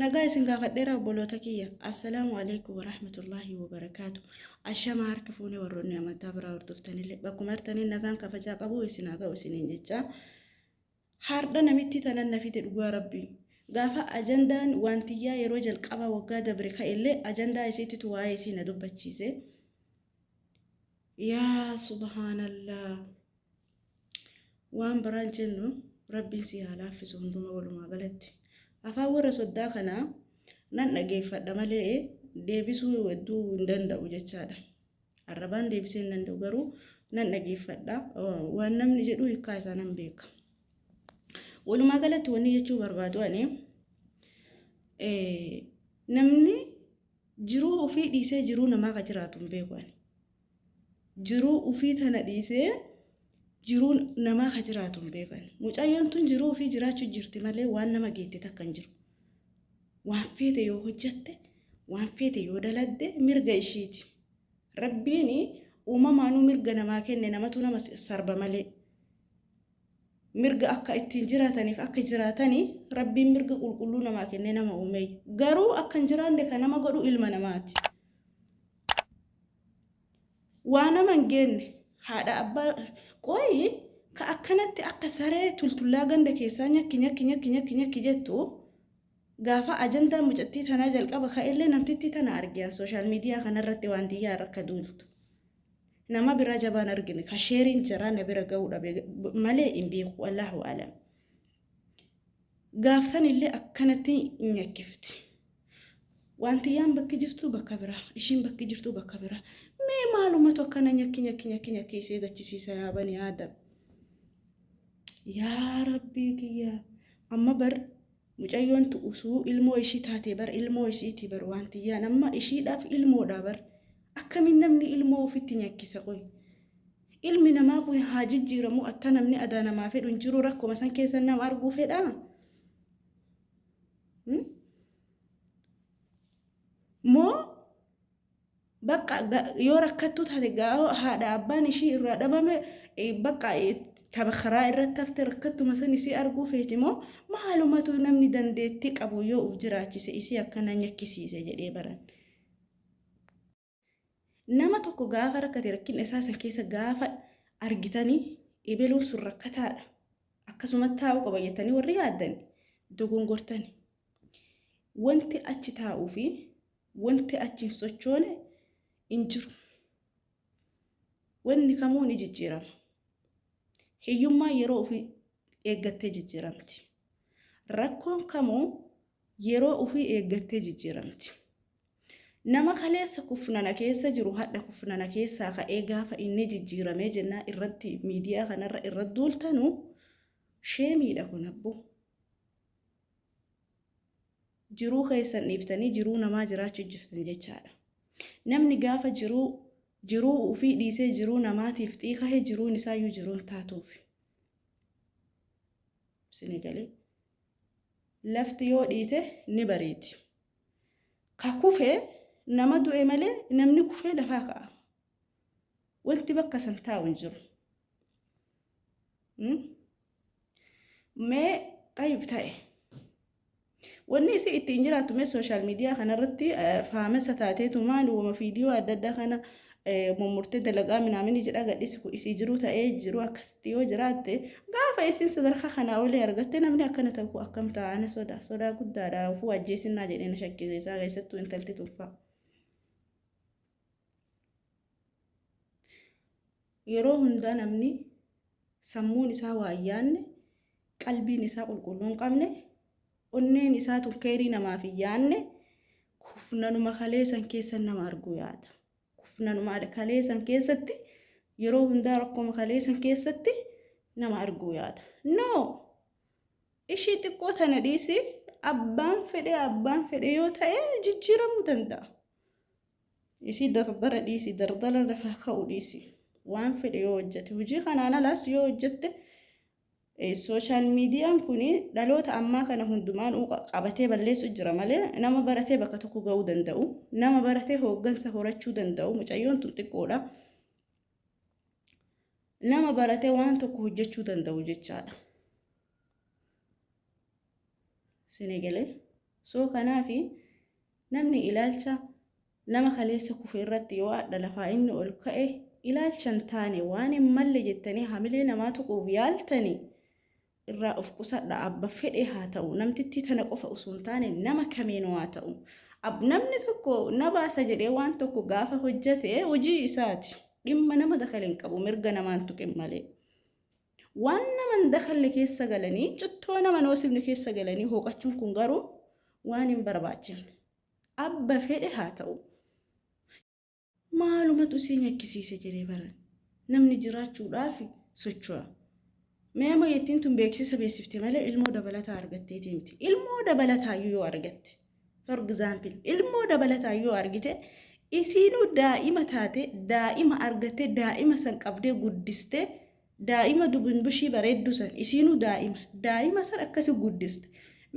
Nagaa isin gaafadheera obboloota kiyya. Assalaamu alaikum warahmatullaahi wabarakaatu. Ashamaa harka fuunee warroonni amantaa biraa hordoftanillee bakkuma jirtaniin nagaan kabajaa qabu isin haa ga'u isiniin jechaa. Haardha namitti tanan na fide dhugaa rabbii. Gaafa ajandaan waantiyyaa yeroo jalqabaa waggaa dabre ka'ellee ajandaa isiititu waa'ee isii na dubbachiise. Yaa subhaanallaa. Waan biraan jennu Rabbiin sii haa laaffisu hunduma walumaa galatti. Afaan warra soddaa kana nan dhageeffadha malee deebisuu hedduu hin danda'u jechaadha. Arrabaan deebisee hin danda'u garuu nan dhageeffadha waan namni jedhu hiikaa isaa nan beeka. Walumaa galatti wanni jechuu barbaadu ani namni jiruu ofii dhiisee jiruu namaa ka jiraatu hin beeku ani. Jiruu ufii tana dhiisee jiruu namaa ka jiraatu hin beekan. Mucayyoon tun jiruu ufii jiraachu jirti malee waan nama geette takka hin jiru. Waan feete yoo hojjatte, waan feete yoo daladde mirga ishiiti. Rabbiin uumamaanuu mirga namaa kenne namatu nama sarba malee. Mirga akka ittiin jiraataniif akka jiraatani rabbiin mirga qulqulluu namaa kennee nama uumee. Garuu akka hin jiraanne kan nama godhu ilma namaati. waa nama hin geenne haadha abbaa qoyi ka akkanatti akka saree tultullaa ganda keessaa nyakki nyakki nyakki nyakki nyakki jettu gaafa ajandaa mucattii tanaa jalqaba ka'ellee namtittii tana argiyan sooshaal miidiyaa kanarratti waan tiyyaa irra akka duultu nama biraa jabaan argine ka sheeriin jaraa na bira ga'uu dhabe malee hin beeku allahu alam. Gaaf san illee akkanatti nyakkifti. Waantiyyaan bakki jirtu bakka biraa, ishiin bakki jirtu bakka biraa. Mee maalumatu akkana nyakki nyakki nyakki nyakki isee gachisiisa yaa banii aadam. Yaa rabbii kiyya amma bar mucayyoon tu usuu ilmoo ishii taatee bar ilmoo isiiti bar waantiyyaan amma ishiidhaaf ilmoodha bar akkamiin namni ilmoo ofitti nyakkisa qoy. Ilmi namaa kun haa jijjiiramu akka namni adaa namaa fedhu hin jiru rakkuma san keessa nama arguu fedha. Moo bakka yoo rakkattuu taate gaa'oo haadha abbaan ishii irraa dhabame bakka tapha karaa irratti hafte rakkattuma san isii arguu feeti moo maalumatu namni dandeettii qabu yoo uf jiraachise isii akkana nyakkisiise jedhee baran. Nama tokko gaafa rakkate rakkina isaa san keessa gaafa argitani ebeluun sun rakkataadha. Akkasuma taa'uu qaba jettanii warri yaaddan dogongortani. Wanti achi taa'uu fi wanti achi hin sochoone hin jiru. Wanni kamuu ni jijjiirama. Hiyyummaan yeroo ofii eeggattee jijjiiramti. Rakkoon kamuu yeroo ofii eeggattee jijjiiramti. Nama kaleessa kufnana keessa jiru hadha kufnana keessaa ka'ee gaafa inni jijjiiramee jennaa irratti miidiyaa kanarra irra duultanu sheemiidha kun abbo. Jiruu keessan dhiiftanii jiruu namaa jiraachuu jirtan jechaadha. Namni gaafa jiruu jiruu ofii dhiisee jiruu namaatiif xiiqahe jiruun isaayyuu jiruun taatuufi. Sinigalee. Lafti yoo dhiite ni bareedi. Ka kufe nama du'e malee namni kufee lafaa ka'a. Wanti bakka san taa'u hin jiru. Mee xayyib ta'e. Wanni isii ittiin jiraattu mee sooshaal miidiyaa kanarratti faamessa taateetu maali wama fiidiyoo adda addaa kana mummurtee dalagaa minaamini jedhaa gadhiisi kun isii jiruu ta'ee jiruu akkasitti yoo jiraatte gaafa isiin sadarkaa kanaa olii argatte namni akkana ta'u kun akkam ta'a ana sodaa sodaa guddaadha ofuu ajjeesinnaa jedhee na shakkisiisaa keessattuu intalti tunfaa. Yeroo hundaa namni sammuun isaa waa hin yaanne qalbiin isaa qulqulluu hin qabne Onneen isaa tun keyrii namaaf hin yaanne kufnanuma kalee san keessa nama arguu yaada. Kufnanuma kalee san keessatti yeroo hundaa rakkoma kalee san keessatti nama arguu yaada. No! Ishii xiqqoo tana dhiisi abbaan fedhe abbaan fedhe yoo ta'e jijjiiramuu danda'a. Isii dardara dhiisi dardara lafaa ka'u dhiisi. Waan fedhe yoo hojjete hojii kanaan alaas yoo hojjette Social median kun dhaloota ammaa kana hundumaan uu qabatee balleessu jira malee nama baratee bakka tokko ga'uu danda'u nama baratee hooggansa horachuu danda'u mucayyoon tun xiqqoodha nama baratee waan tokko hojjechuu danda'u jechaadha sinigalee soo kanaafi namni ilaalcha Nama kaleessa kufe irratti yoo ardha lafaa inni ol ka'e ilaalcha hin taane waan hin malle jettanii hamilee namaa tuquuf yaaltani irraa of qusadha abba fedhee haa ta'u namtittii tana qofa osoo hin taane nama kamiinuu haa ta'u ab namni tokko na baasa jedhee waan tokko gaafa hojjate hojii isaati dhimma nama dakale hin qabu mirga namaa hin tuqin malee waan nama hin dakalle keessa galanii cittoo nama hin hoosifne keessa galanii hooqachuun kun garuu waan hin barbaachifne Abba fedhe haa ta'u. Maalumatu isii nyakkisiise jedhee baran. Namni jiraachuudhaafi socho'a. Mee amma yettiin tun beeksisa beeksifte malee ilmoo dabalataa argatteetii miti. Ilmoo dabalataayyuu yoo argatte, for example, ilmoo dabalataa yoo argite, isiinuu daa'ima taate, daa'ima argattee, daa'ima san qabdee guddistee, Daa'ima dubinbushii bareeddu san isiinu daa'ima daa'ima san akkasi guddiste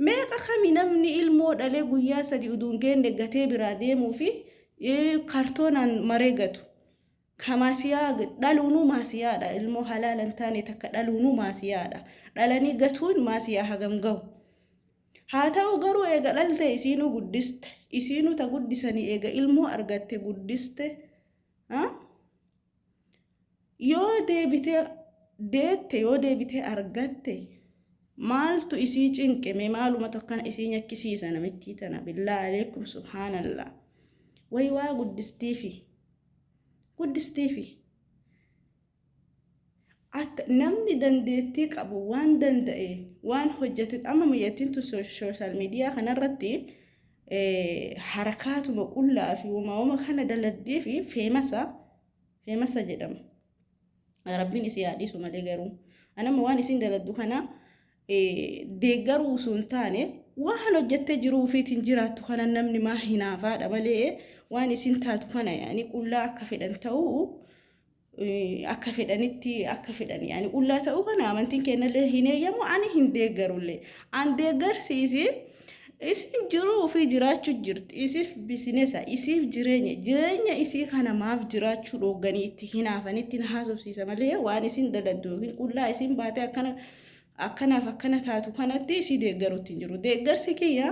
meeqa kami namni ilmoo dhalee guyyaa sadi udu hin geenne gatee biraa deemuu fi kartoonaan maree gatu ka maasiyaa dhaluunuu maasiyaadha ilmoo halaala hin taane takka dhaluunuu maasiyaadha dhalanii gatuun maasiyaa hagam gahu haa ta'u garuu eega dhalte isiinuu guddiste isiinuu ta guddisanii eega ilmoo argatte guddiste Yoo deebitee deette yoo deebitee argatte maaltu isii cinqe mee maalumatu akkana isii nyakkisiisa namittii tana billaa aleekum subhaanallaa way waa guddistiifi guddistiifi akka namni dandeettii qabu waan danda'e waan hojjete amma miyattiin tun sooshaal miidiyaa kanarratti harakaatuma qullaa fi woma woma kana daladdee fi feemasa feemasa jedhama rabbiin isii haa dhiisu malee garuu anama waan isiin daladdu kana deeggaruu osoo hin taane waan hojjettee jiruu ofiitiin jiraattu kana namni maa hinaafaadha malee waan isiin taatu kana yaani qullaa akka fedhan ta'uu akka fedhanitti akka fedhan yaani qullaa ta'uu kana amantiin keenyallee hin eeyyamu ani hin deeggarullee an deeggarsi isii isin jiruu ofii jiraachuu jirti isiif bisinesa isiif jireenya jireenya isii kana maaf jiraachuu dhoogganii itti hinaafan itti hin haasofsiisa malee waan isin daladdu yookiin qullaa isin baatee akkana akkanaaf akkana taatu kanatti si deeggarutti hin jiru. Deeggarsi kiyya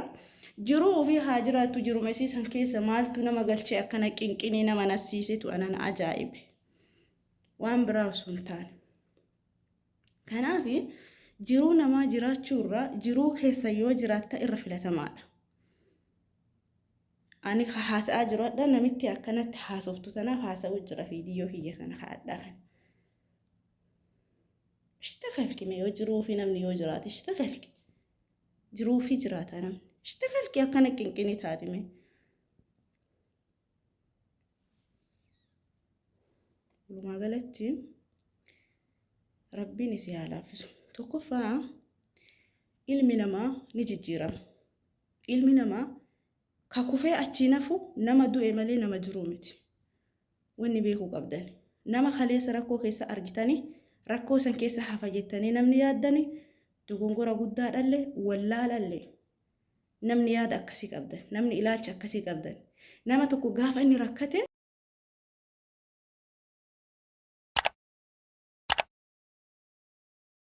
jiruu ofii haa jiraattu jirumesii san keessa maaltu nama galchee akkana qinqinii nama nassiisitu anan ajaa'ibe. Waan biraa osoo hin taane. Kanaaf jiruu namaa jiraachuu irraa jiruu keessa yoo jiraatta irra filatamaadha. Ani haasa'aa jiru hadha namitti akkanatti haasoftu tanaaf haasa'uu jira fiidiyoo kiyya kana haadhaa kana. ishtakalki mee yoo jiruu fi namni yoo jiraate ishtakalki jiruu fi jiraata namni ishtakalki akkana qinqini taati mee walumaa galatti rabbiin isii haa laaffisu tokkoffaa ilmi namaa ni jijjiirama ilmi namaa Ka kufee achiin hafu nama du'e malee nama jiruu miti. Wanni beekuu qabdan, nama kaleessa rakkoo keessa argitanii rakkoo san keessa hafa jettanii namni yaaddani dogongora guddaadhalle, wallaalalle. Namni yaada akkasii qabdan, namni ilaalcha akkasii qabdan, nama tokko gaafa inni rakkate,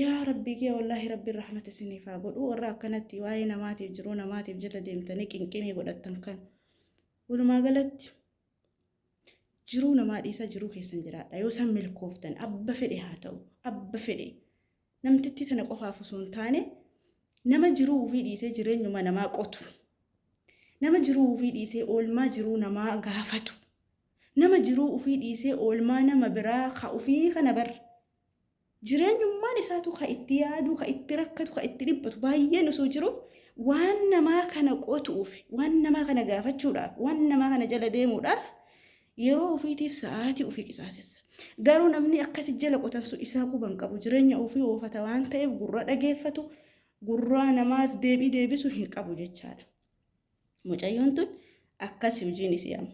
yaa rabbii kee wallaahi rabbiin rahmata isiniif haa godhu warra akkanatti waa'ee namaatiif jiruu namaatiif jala deemtanii qinqinii godhattan kan walumaa galatti jiruu namaa dhiisaa jiruu keessan jiraadha yoo isaan milkooftan abba fedhe haa ta'u abba fedhe namtittii tana qofaaf osoo hin taane nama jiruu ofii dhiisee jireenyuma namaa qotu nama jiruu ofii dhiisee oolmaa jiruu namaa gaafatu Nama jiruu ufii dhiisee oolmaa nama biraa ka ufii kana bar jireenyummaan isaatu ka itti yaadu, ka itti rakkatu, ka itti dhiphatu baay'een osoo jiruu waan namaa kana qotuuf, waan namaa kana gaafachuudhaaf, waan namaa kana jala deemuudhaaf yeroo ufiitiif sa'aatii ufii qisaasessa. Garuu namni akkasi jala qotan sun isaa quba hin qabu. Jireenya ufii oofata waan ta'eef gurra dhageeffatu, gurraa namaaf deebii deebisu hin qabu jechaadha. Mucayyoon tun akkasi hujiin isii amma.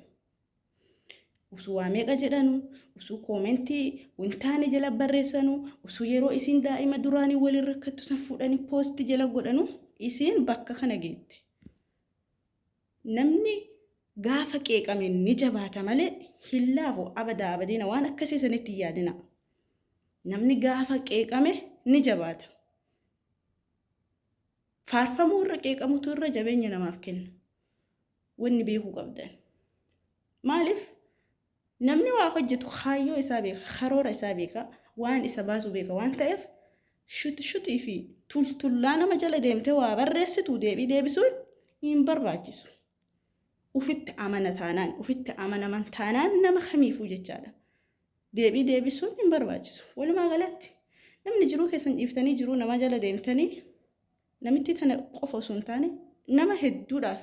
Usuu waa meeqa jedhanu, usuu koomentii wintaane jala barreessanu, usuu yeroo isiin daa'ima duraanii waliin rakkattu san fuudhanii poosti jala godhanu isiin bakka kana geette. Namni gaafa qeeqame ni jabaata malee hin laafu abadaa abadiina waan akkasii sanitti hin yaadina. Namni gaafa qeeqame ni jabaata. Faarfamuu irra qeeqamutu irra jabeenya namaaf kenna. Wanni beekuu qabdan. Maaliif? Namni waa hojjetu kaayyoo isaa beeka, karoora isaa beeka, waan isa baasu beeka waan ta'eef shuti shutii fi tultullaa nama jala deemtee waa barreessitu deebii deebisuun hin barbaachisu. Ufitti amana taanaan, ufitti amanaman taanaan nama kamiifuu jechaadha. deebii deebisuun hin barbaachisu. Walumaa galatti namni jiruu keessan dhiiftanii jiruu namaa jala deemtanii namittii tana qofa osoo hin taane nama hedduudhaaf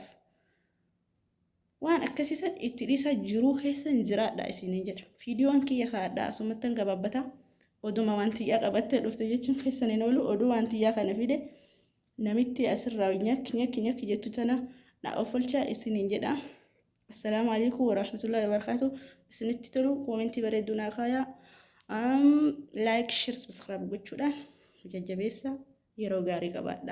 waan akkasii san itti dhiisaa jiruu keessan jiraadhaa isiniin jedha. Viidiyoon kiyya kaadhaa asumattan gabaabbata oduma waan tiyyaa qabattee dhufte jechuun keessan hin oolu oduu waan tiyyaa kana fide namitti asirraa nyakki nyakki nyakki jettu tana na offolchaa isiniin jedha. Assalaamu alaikum warahmatullahi wabarakatuh. Isinitti tolu koomentii bareedduu naa kaayaa. Um, like, share, subscribe gochuudhaan jajjabeessa yeroo gaarii qabaadha.